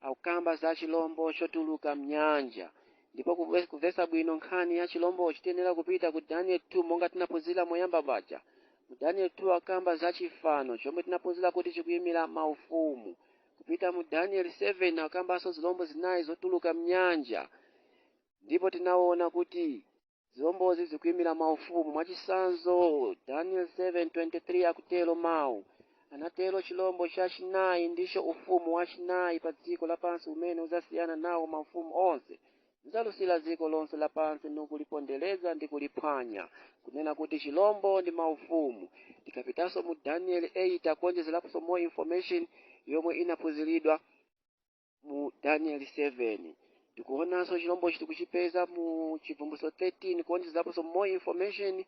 akukamba za chilombo chotuluka mnyanja ndipo kuve- kuvesa bwino nkhani ya chilombochi tiyenera kupita ku daniel 2 monga tinaphunzira moyamba paja mu daniel 2 akamba za chifano chomwe tinaphunzira kuti chikuyimira maufumu kupita mu daniel 7 akambanso zilombo zinayi zotuluka mnyanja ndipo tinaona kuti Zilombozi zikuimira maufumu. Mwachitsanzo, Danieli 7:23 akutero, Mawu. anatero chilombo chachinayi, ndicho ufumu wachinayi pa dziko lapansi umene udzasiyana nawo maufumu onse, nudzalusira dziko lonse lapansi, nukulipondereza ndi kuliphwanya, kunena kuti chilombo ndi maufumu. Tikapitanso mu Danieli 8 akuwonjezeraponso more information yomwe inaphunziridwa. mu danieli 7 tikuonanso chilombochi tikuchipeza mu chivumbulutso 13 kuonjezaponso more information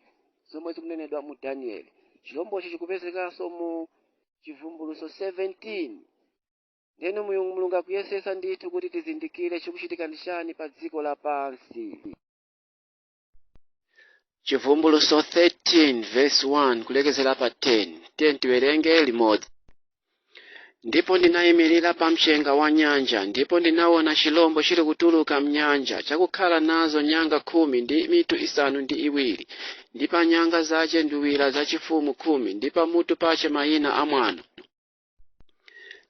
zomwe zikunenedwa mu danieli chilombochi chikupezekanso mu chivumbulutso 17 ndeno mulungu mulungu akuyesesa ndithu kuti tizindikire chikuchitika ndi chani pa dziko lapansi chivumbuluso 13 verse 1 kulekezera pa 10 10 tiwerenge limodzi ndipo ndinayimirira pa mchenga wa nyanja ndipo ndinaona chilombo chili kutuluka mnyanja chakukhala nazo nyanga khumi ndi mitu isanu ndi iwiri ndi pa nyanga zache nduwira zachifumu khumi ndi pamutu pache mayina a mwano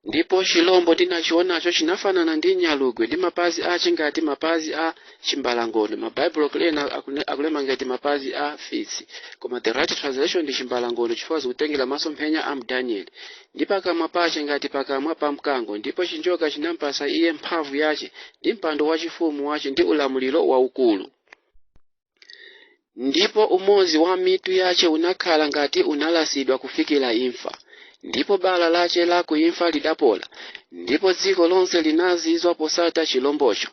ndipo chilombo ndinachionacho chinafanana ndi nyalugwe ndi mapazi ache ngati mapazi a chimbalangondo mabaibulo kulena akune- akulemba ngati mapazi a fisi koma the right translation ndi chimbalangondo chifukwa zikutengera masomphenya a m'Danieli ndi pakamwa pache ngati pakamwa pa mkango ndipo chinjoka chinampasa iye mphamvu yache ndi mpando wachifumu wache ndi ulamuliro waukulu ndipo umodzi wa mitu yache unakhala ngati unalasidwa kufikira imfa ndipo bala lache la kuimfa lidapola ndipo dziko lonse linazizwa posata chilombocho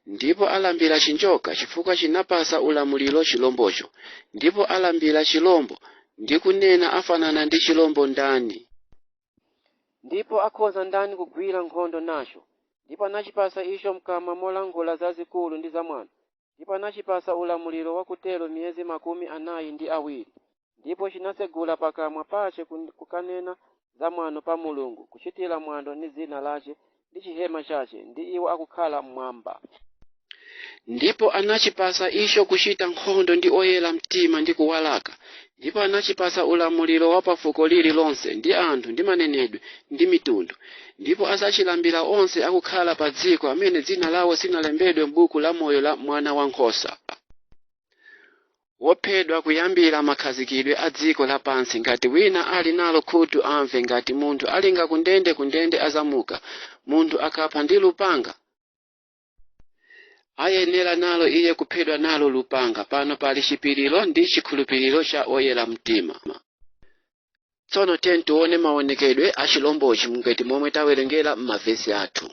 ndipo alambira chinjoka chifukwa chinapasa ulamuliro chilombocho ndipo alambira chilombo ndi kunena afanana ndi chilombo ndani ndipo akhoza ndani kugwira nkhondo nacho ndipo anachipasa icho mkamwa molankhula zazikulu ndi zamwano ndipo anachipasa ulamuliro wakutero miyezi makumi anayi ndi awiri, ndipo chinatsegula pakamwa pache kun- kukanena za mwano pa Mulungu, kuchitira mwano ndi dzina lache ndi chihema chache ndi iwo akukhala mmwamba. ndipo anachipasa icho kuchita nkhondo ndi oyera mtima ndi kuwalaka Ndipo anachipatsa ulamuliro wa pa fuko lililonse, ndi anthu, ndi manenedwe, ndi mitundu, ndipo adzachilambira onse akukhala padziko, amene dzina lawo sinalembedwe m'buku la moyo la Mwana wa Nkhosa, wophedwa kuyambira makhazikidwe a dziko lapansi. Ngati wina ali nalo khutu, amve. Ngati munthu alinga kundende, kundende azamuka, munthu akapha ndi lupanga. ayenera nalo iye kuphedwa nalo lupanga pano pali chipiriro ndi chikhulupiriro cha oyera mtima tsono tiyeni tione maonekedwe a chilombochi ngati momwe tawerengera m'mavesi athu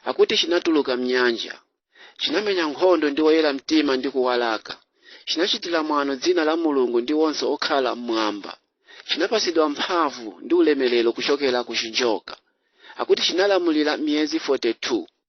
akuti chinatuluka mnyanja chinamenya nkhondo ndi oyera mtima ndi kuwalaka chinachitira mwano dzina la mulungu ndi onse okhala mmwamba chinapatsidwa mphamvu ndi ulemerero kuchokera ku chinjoka akuti chinalamulira miyezi 42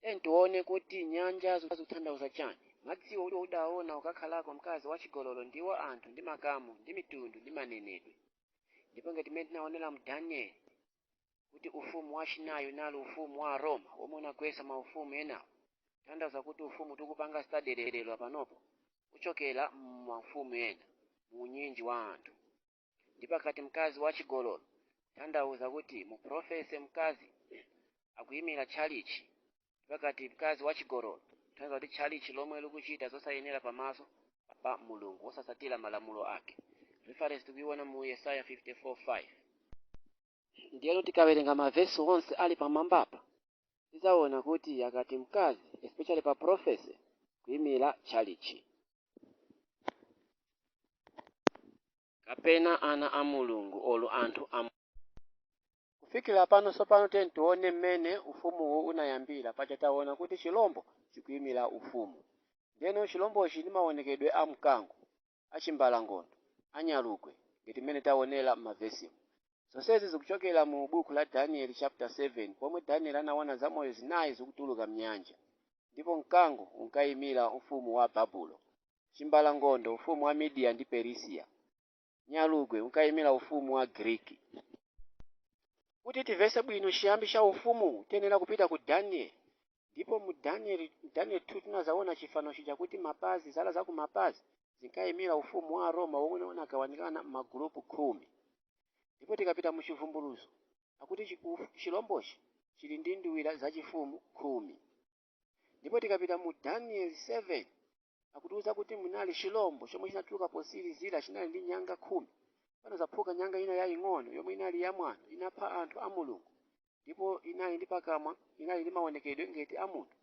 Tiyeni tione kuti nyanja zikuthandauza chani. Madziwo udaona ukakhalako mkazi wachigololo ndiwo anthu ndi makamu ndi mitundu ndi manenedwe. Ndipo ngati mmene tinaonera mu Danieli kuti ufumu wachinayi unali ufumu wa Aroma womwe unagwesa maufumu enawo, kuthandauza kuti ufumu tikupanga study lero panopo uchokera mmaufumu ena, muunyinji wa anthu. ndipo akati mkazi wachigololo tanthauza kuti mu prophecy mkazi akuyimira tchalichi ndipo akati mkazi wachigololo tanthauza kuti tchalichi lomwe likuchita zosayenera pamaso pa mulungu wosatsatira malamulo ake reference tikuyiona mu yesaya 54:5 Ndiyeno tikawerenga mavesi onse ali pamwambapa, tidzaona kuti akati mkazi, especially pa prophecy, kuimira tchalitchi. kapena ana a Mulungu or anthu a Kufikira pano tsopano tiyeni tione mmene ufumuwu unayambira. Paja taona kuti chilombo chikuimira ufumu. Ndiyeno chilombochi ndi maonekedwe a mkango. a chimbalangondo, a nyalugwe ngati mmene taonera m'mavesimu. Zonsezi zikuchokera mu buku la Danieli chapter 7 pomwe Danieli anaona zamoyo zinayi zikutuluka m'nyanja. Ndipo mkango unkaimira ufumu wa Babulo, chimbalangondo ufumu wa Midiya ndi Perisiya, nyalugwe unkaimira ufumu wa Giriki. Kuti tivese bwino chiyambi cha ufumuwu tiyenera kupita ku Danieli ndipo mu Daniel, Daniel 2 tinazaona chifano chija kuti mapazi zala za kumapazi zinkayimira ufumu wa Aroma womwe unagawanikana m'magulupu khumi ndipo tikapita mu Chivumbulutso akuti chi- uf- chilombochi chili ndi nduwira zachifumu khumi ndipo tikapita mu Daniel 7 akutiuza kuti munali chilombo chomwe chinatuluka potsirizira chinali ndi nyanga khumi panazaphuka nyanga ina yaying'ono yomwe inali yamwano inapha anthu a mulungu ndipo inali ndi pakamwa inali ndi maonekedwe ngati a munthu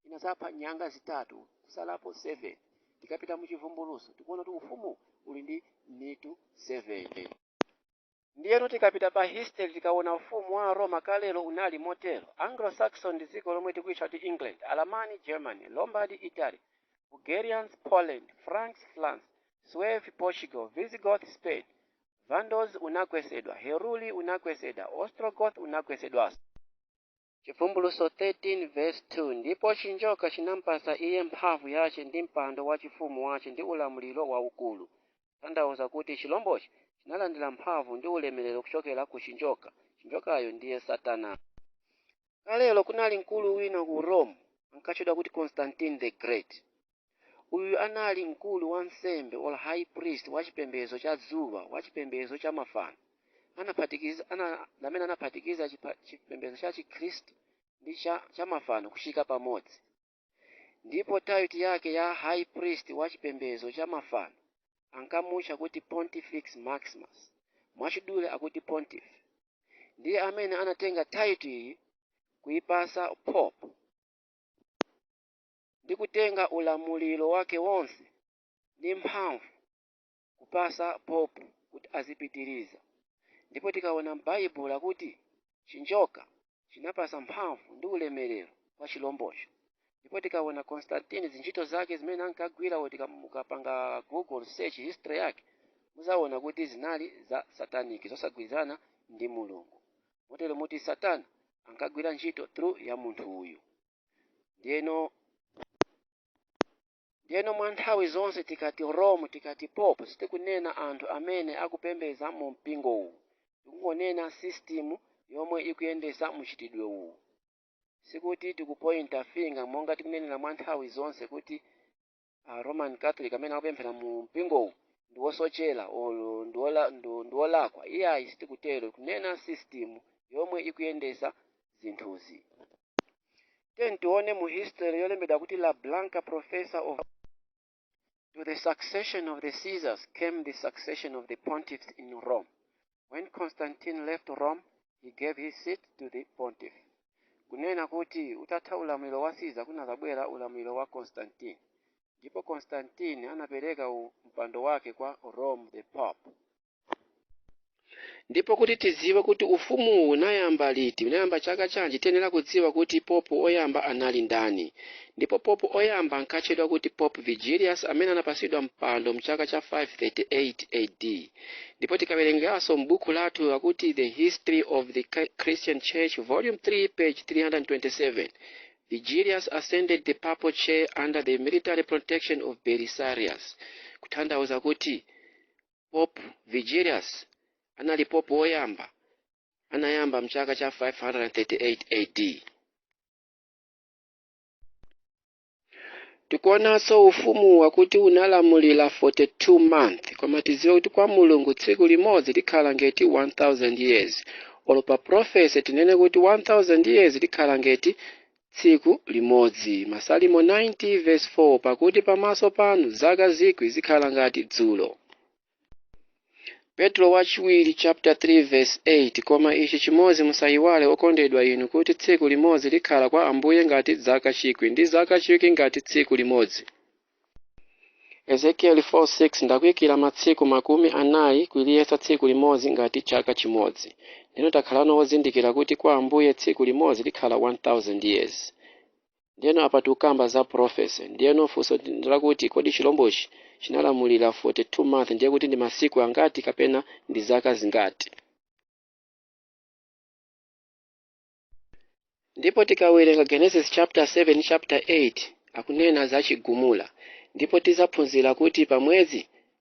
inazapha nyanga zitatu kusalapo 7 tikapita mu chivumbulutso tikuona kuti ufumu uli ndi mitu 7 Ndiyeno tikapita pa history tikawona ufumu wa Aroma kalero unali motero, Anglo-Saxon ndi dziko lomwe tikuyitcha kuti England, Alamani, Germany, Lombard, Italy, Bulgarians, Poland, Franks, France, Suevi, Portugal, Visigoth, Spain, Vandals, unagwetsedwa, Heruli, unagwetsedwa, Ostrogoth, unagwetsedwaso. Chivumbulutso 13 vesi 2, Ndipo chinjoka chinampatsa iye mphamvu yace ndi mpando wa chifumu wace ndi ulamuliro waukuru, tanthauza kuti chilombochi chinalandira mphamvu ndi ulemerero kuchokera ku chinjoka, chinjokayo ndiye satana. Kalero kunali mkulu wina ku Rome ankatchedwa kuti Constantine the Great. Uyu anali mkulu wansembe, or high priest, wa chipembedzo cha dzuwa, wa chipembedzo cha mafano, amene anaphatikiza chipembedzo cha Chikhristu ndi cha mafano kuchika pamodzi. Ndipo title yake ya high priest wa chipembedzo cha mafano ankamutcha kuti Pontifex Maximus, mwachidule akuti Pontiff. Ndiye amene anatenga title iyi kuipasa Pope. ndi kutenga ulamuliro wake wonse ndi mphamvu kupasa popu kuti azipitiriza ndipo tikaona m'baibulo akuti chinjoka chinapasa mphamvu ndi ulemerero kwa chilombocho ndipo tikaona constantine zintchito zake zimene ankagwira kuti ka- mukapanga google search history yake muzaona kuti zinali za sataniki zosagwirizana ndi mulungu motero muti satana ankagwira ntchito through ya munthu uyu ndiyeno ndiyeno mwa nthawi zonse tikati rome tikati pope sitikunena anthu amene akupembedza mu mpingo uwu tikungonena system yomwe ikuyendetsa muchitidwe uwu sikuti tikupointa finger monga tikunenera mwa nthawi zonse kuti a roman catholic amene akupemphera mu mpingowu ndi wosochera olo ndi wola- ndi- ndi wolakwa iyayi sitikutero kunena system yomwe ikuyendesa zinthuzi ten tione mu history yolembedwa kuti la blanca professor of to the succession of the caesars came the succession of the pontiffs in rome When Constantine left Rome, he gave his seat to the pontiff. Kunena kuti utatha ulamuliro wa Caesar kunazabwera ulamuliro wa Constantine. Ndipo Constantine anapereka mpando wake kwa Rome the Pope. Ndipo kuti tiziwe kuti ufumu unayamba liti, unayamba chaka chanji, tiyenera kudziwa kuti Pope oyamba anali ndani. Ndipo Pope oyamba ankatchedwa kuti Pope Vigilius amene anapasidwa mpando mchaka cha 538 AD. ndipo tikawerengaso m'buku lathu lakuti the history of the christian church volume 3 page 327 vigilius ascended the papal chair under the military protection of belisarius kutanthauza kuti pope vigilius anali pope woyamba anayamba mchaka cha 538 ad tikuonanso ufumu wakuti unalamulira 42 month koma tiziwe kuti kwa mulungu tsiku limodzi likhala ngeti 1000 years olo pa profesi tinene kuti 1000 years likhala ngeti tsiku limodzi masalimo 90 verse 4 pakuti pamaso panu zaka zikwi zikhala ngati dzulo Petro wachiwiri chapter 3 verse 8 koma ichi chimodzi musayiwale okondedwa inu kuti tsiku limodzi likhala kwa ambuye ngati zaka chikwi ndi zaka chikwi ngati tsiku limodzi Ezekieli 4:6 ndakuyikira matsiku makumi anayi kuliyesa tsiku limodzi ngati chaka chimodzi ndeno takhalano wozindikira kuti kwa ambuye tsiku limodzi likhala 1000 years Ndiyeno apa tikukamba za prophecy. Ndiyeno funso ndi lakuti kodi chilombochi chinalamulira 42 month ndiye kuti ndi masiku angati kapena ndi zaka zingati? Ndipo tikawerenga Genesis chapter 7 chapter 8 akunena za chigumula ndipo tizaphunzira kuti pamwezi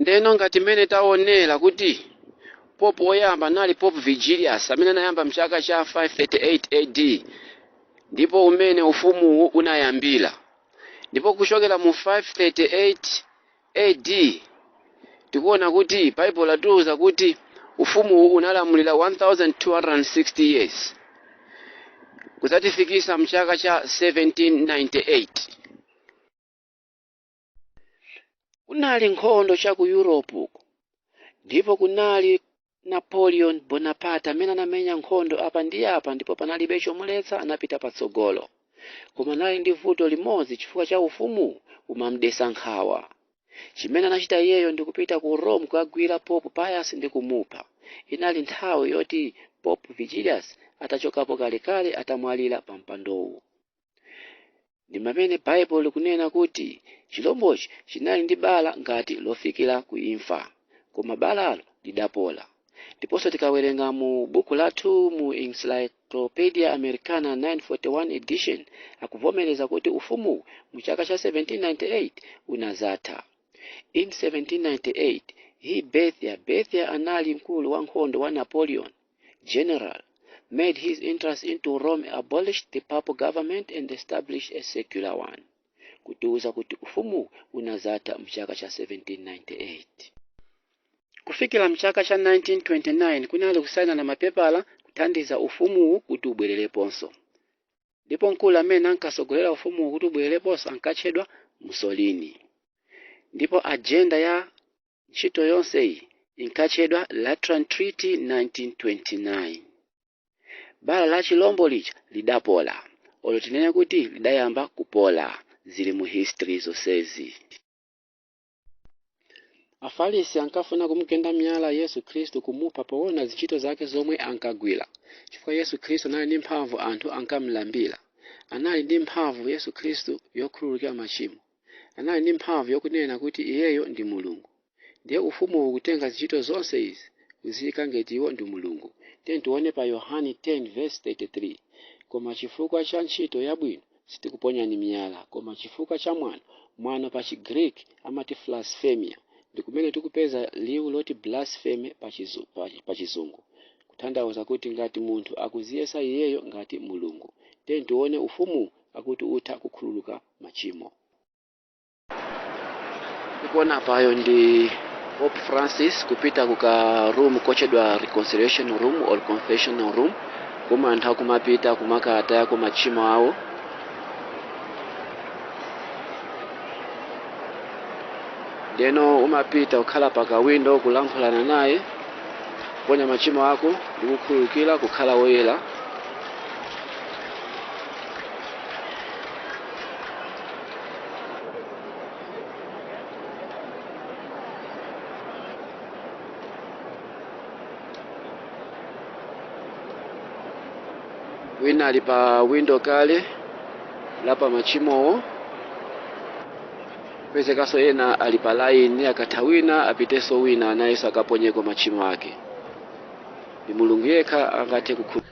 ndeno ngati mmene taonera kuti pope woyamba anali pope vigilius amene anayamba mchaka cha 538 ad ndi pomene ufumuwu unayambira ndipo kuchokera mu 538 ad tikuona kuti baibulo latiuza kuti ufumuwu unalamulira 1260 years kuzatifikisa mchaka cha 1798 kunali nkhondo cha ku europe ndipo kunali napoleon bonaparte amene anamenya nkhondo apa ndi apa ndipo panalibe chomuletsa anapita patsogolo koma anali ndi vuto limodzi chifukwa cha ufumu umamudesa nkhawa chimene anachita iyeyo ndi kupita ku rome kukagwira pope pius ndi kumupha inali nthawi yoti pope vigilius atachokapo kalekale atamwalira pa mpandowu ndi mamene baibulo likunena kuti chilombochi chinali ndi bala ngati lofikira ku imfa koma balalo lidapola ndiponso tikawerenga mu buku lathu mu encyclopedia americana 941 edition akuvomereza kuti ufumuwu mu chaka cha 1798 unazatha in 1798 he bethia bethia anali mkulu wa nkhondo wa napoleon general made his entrance into Rome, abolished the papal government and established a secular one. Kutiuza kuti ufumu unazatha mchaka cha 1798. Kufikira mchaka cha 1929 kunali kusainana mapepala kuthandiza ufumuwu kuti ubwerereponso. Ndipo mkulu amene ankatsogolera ufumuwu kuti ubwerereponso ankatchedwa Mussolini. Ndipo ajenda ya Ntchito yonseyi inkatchedwa Lateran Treaty 1929. Bala la chilombo lija lidapola, olo tinene kuti lidayamba kupola, zili mu history zonsezi. Afalisi ankafuna kumugenda miyala Yesu Khristu kumupha poona zintchito zake zomwe ankagwila. Chifukwa Yesu Khristu anali ndi mphamvu anthu ankamulambila. Anali ndi mphamvu Yesu Khristu yokhululukira machimo. anali ndi mphamvu yokunena kuti Iyeyo ndi Mulungu. Ndiye Ufumuwu ukutenga zintchito zonse izi kuziyika ngeti Iwo ndi Mulungu. Tiyeni tiwone pa Yohane 10:33, Koma chifukwa cha ntchito yabwino sitikuponyani miyala, koma chifukwa cha mwano, mwano pa chi Greek amati blasphemia, ndi kumene tikupeza liwu loti blaspheme pa chi, pa, pa chizungu, kuthandauza kuti ngati munthu akuziyesa iyeyo ngati Mulungu. Tiyeni tiwone Ufumuwu akuti utha kukhululuka. machimo tikuona apayo ndi Pope Francis kupita kuka room kotchedwa reconciliation room or confessional room komwe anthu akumapita kumakatayako machimo awo ndeno umapita ukhala pa kawindo kulankhulana naye kuponya machimo ako ndi kukhululukira kukhala woyera wina ali pa windo kulapa machimowo pezekanso ena ali pa laini akatha wina apitenso wina nayenso akaponyeko machimo ake ndi mulungu yekha angathe kukhululukira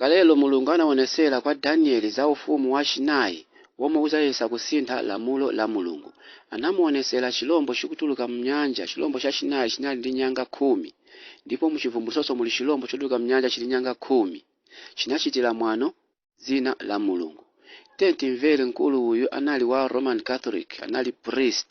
Kalelo Mulungu anawonetsera kwa Danieli za ufumu wa chinayi womwe udzayesa kusintha lamulo la Mulungu. Anamuwonetsera chilombo chikutuluka mnyanja, chilombo cha chinayi chinali ndi nyanga khumi. Ndipo mu Chivumbulutsonso muli chilombo chotuluka mnyanja chili nyanga khumi. Chinachitira mwano dzina la Mulungu. Tiyeni timvere mkulu uyu anali wa Roman Catholic, anali priest.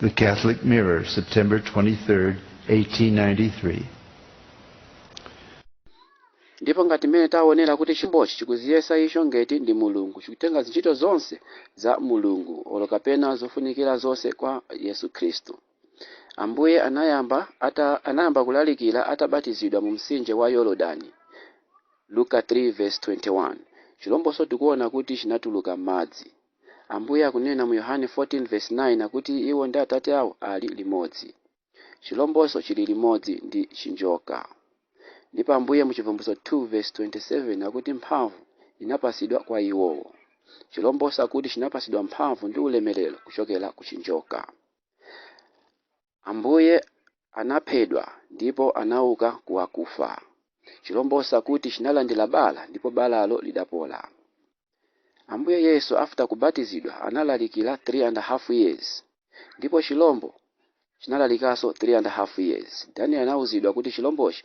The Catholic Mirror, September 23, 1893. ndipo ngati mmene taonera kuti chilombochi chikuziyesa icho ngati ndi mulungu chikutenga zintchito zonse za mulungu olo kapena zofunikira zonse kwa yesu khristu ambuye anayamba kulalikira atabatizidwa mu mtsinje wa yorodani luka 3:21 chilombonso tikuona kuti chinatuluka m'madzi Ambuye akunena mu Yohane 14 vesi 9 kuti iwo ndi Atate awo ali limodzi. Chilombonso chili limodzi ndi chinjoka. Ndipo Ambuye mu Chivumbulutso 2 vesi 27 akuti mphamvu inapatsidwa kwa iwowo. Chilombonso akuti chinapatsidwa mphamvu ndi ulemelero kuchokera ku chinjoka. Ambuye anaphedwa ndipo anauka ku akufa. Chilombonso akuti chinalandira bala ndipo balalo lidapola. Ambuye Yesu after kubatizidwa analalikira 3 and half years ndipo chilombo chinalalikanso 3 and half years. Daniel anauzidwa kuti chilombochi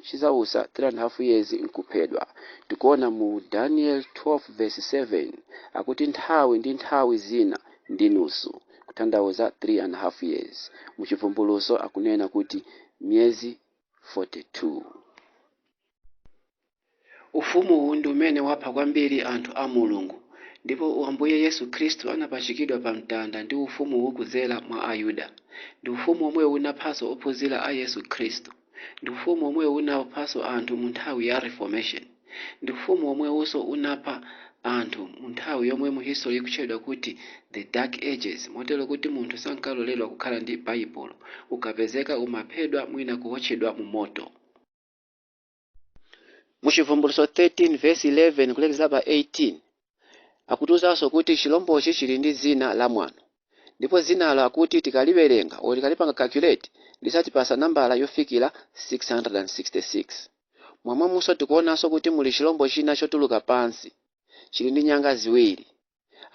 chizausa 3 and half years nkuphedwa. Tikuona mu Daniel 12 verse 7 akuti nthawi ndi nthawi zina ndi nusu. kutanthauza 3 and half years. Mu Chivumbulutso akunena kuti miyezi 42. Ufumu uwu ndi umene wapha kwambiri anthu a Mulungu. Ndipo Ambuye Yesu Khristu anapachikidwa pa mtanda ndi ufumu uwu kudzera mwa Ayuda. Ndi ufumu omwe unaphanso ophunzira a Yesu Khristu. Ndi ufumu womwewu unaphanso anthu mu nthawi ya Reformation. Ndi ufumu womwewunso unapha anthu mu nthawi yomwe mu history ikutchedwa kuti The Dark Ages, motero kuti munthu sankaloledwa kukhala ndi Baibulo, ukapezeka umaphedwa mwina kuwotchedwa mu moto. Mu Chivumbulutso 13 vesi 11 kulekezera pa 18, Akutiuzanso kuti chilombochi chili ndi dzina la mwano ndipo dzinalo akuti tikaliwerenga or tikalipanga calculate lidzatipatsa nambala yofikira 666. Momwemonso tikuonanso kuti muli chilombo china chotuluka pansi, chili ndi nyanga ziwiri.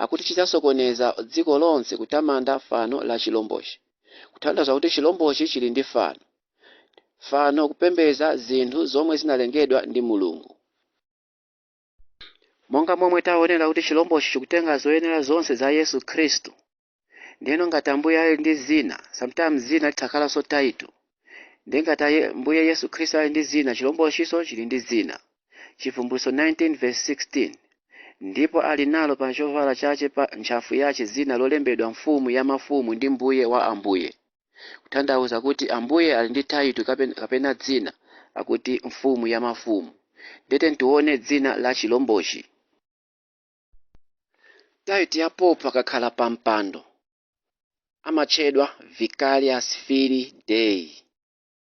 Akuti chidzasokoneza dziko lonse kutamanda fano la chilombochi. Kutanthauza kuti chilombochi chili ndi fano. Fano kupembedza zinthu zomwe zinalengedwa ndi Mulungu. Monga momwe taonera kuti chilombochi chikutenga zoyenera zonse za Yesu Khristu. Ndiyeno ngati Ambuye ali ndi zina, sometimes zina litha kukhalanso title. Ndiye ngati Ambuye Yesu Khristu ali ndi zina, chilombochinso chili ndi zina. Chivumbulutso 19 verse 16. Ndipo ali nalo pa chovala chache pa ntchafu yache zina lolembedwa Mfumu ya mafumu ndi Mbuye wa ambuye. kuthandauza kuti Ambuye ali ndi title kapena dzina lakuti mfumu ya mafumu. Nde tiyeni tione dzina la chilombochi. Title ya pope akakhala pa mpando amatchedwa vicarius filii dei.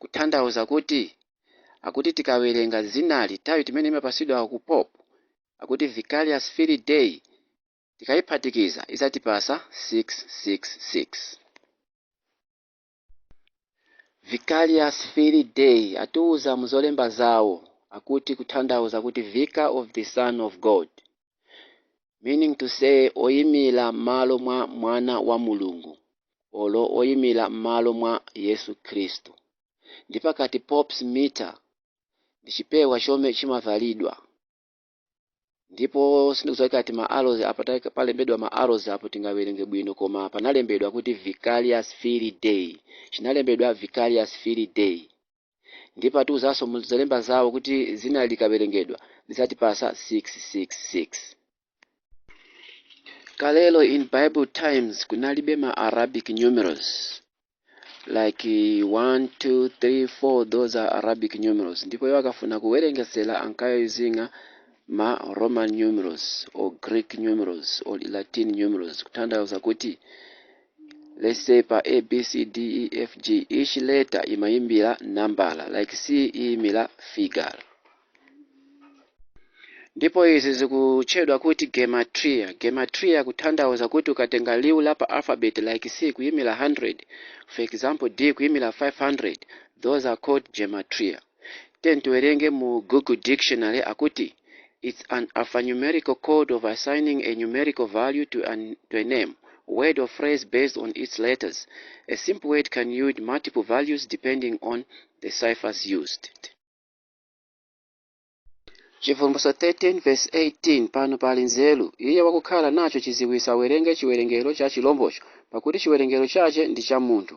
Kuthandauza kuti akuti tikawerenga dzinali title imene imapasidwa ku Pope akuti Vicarius Filii Dei tikaiphatikiza idzatipasa 666. Vicarius Filii Dei atiuza muzolemba zawo akuti kuthandauza kuti Vicar of the Son of God. Meaning to say oyimira m'malo mwa mwana wa Mulungu olo oyimira m'malo mwa Yesu Khristu. Ndi pakati Pope's mitre ndi chipewa chomwe chimavalidwa ndipo sindikudziwa ngati ma arrows apa ta- palembedwa ma arrows apo tingawerenge bwino koma panalembedwa kuti Vicarius Filii Dei chinalembedwa Vicarius Filii Dei Ndipo atiuzanso mu zolemba zawo kuti dzina likawerengedwa lidzatipatsa 666. Kalelo in Bible times kunalibe ma Arabic numerals like 1 2 3 4 those are Arabic numerals ndipo iwo akafuna kuwerengetsera ankayuzinga ma Roman numerals or Greek numerals or Latin numerals kuthandauza kuti let's say pa A B C D E F G each letter imayimira nambala like C iyimira figure ndipo izi zikutchedwa kuti gematria gematria kuthandauza kuti ukatenga liwu la pa alphabet like c kuyimira 100 for example d kuyimira 500 those are called gematria Tiyeni tiwerenge mu Google Dictionary akuti it's an alphanumerical code of assigning a numerical value to a name, word or phrase based on its letters. A simple word can yield multiple values depending on the ciphers used. Chivumbulutso 13 verse 18 pano pali nzeru iye wakukhala nacho chidziwitso awerenge chiwerengero cha chilombocho pakuti chiwerengero chache ndi cha munthu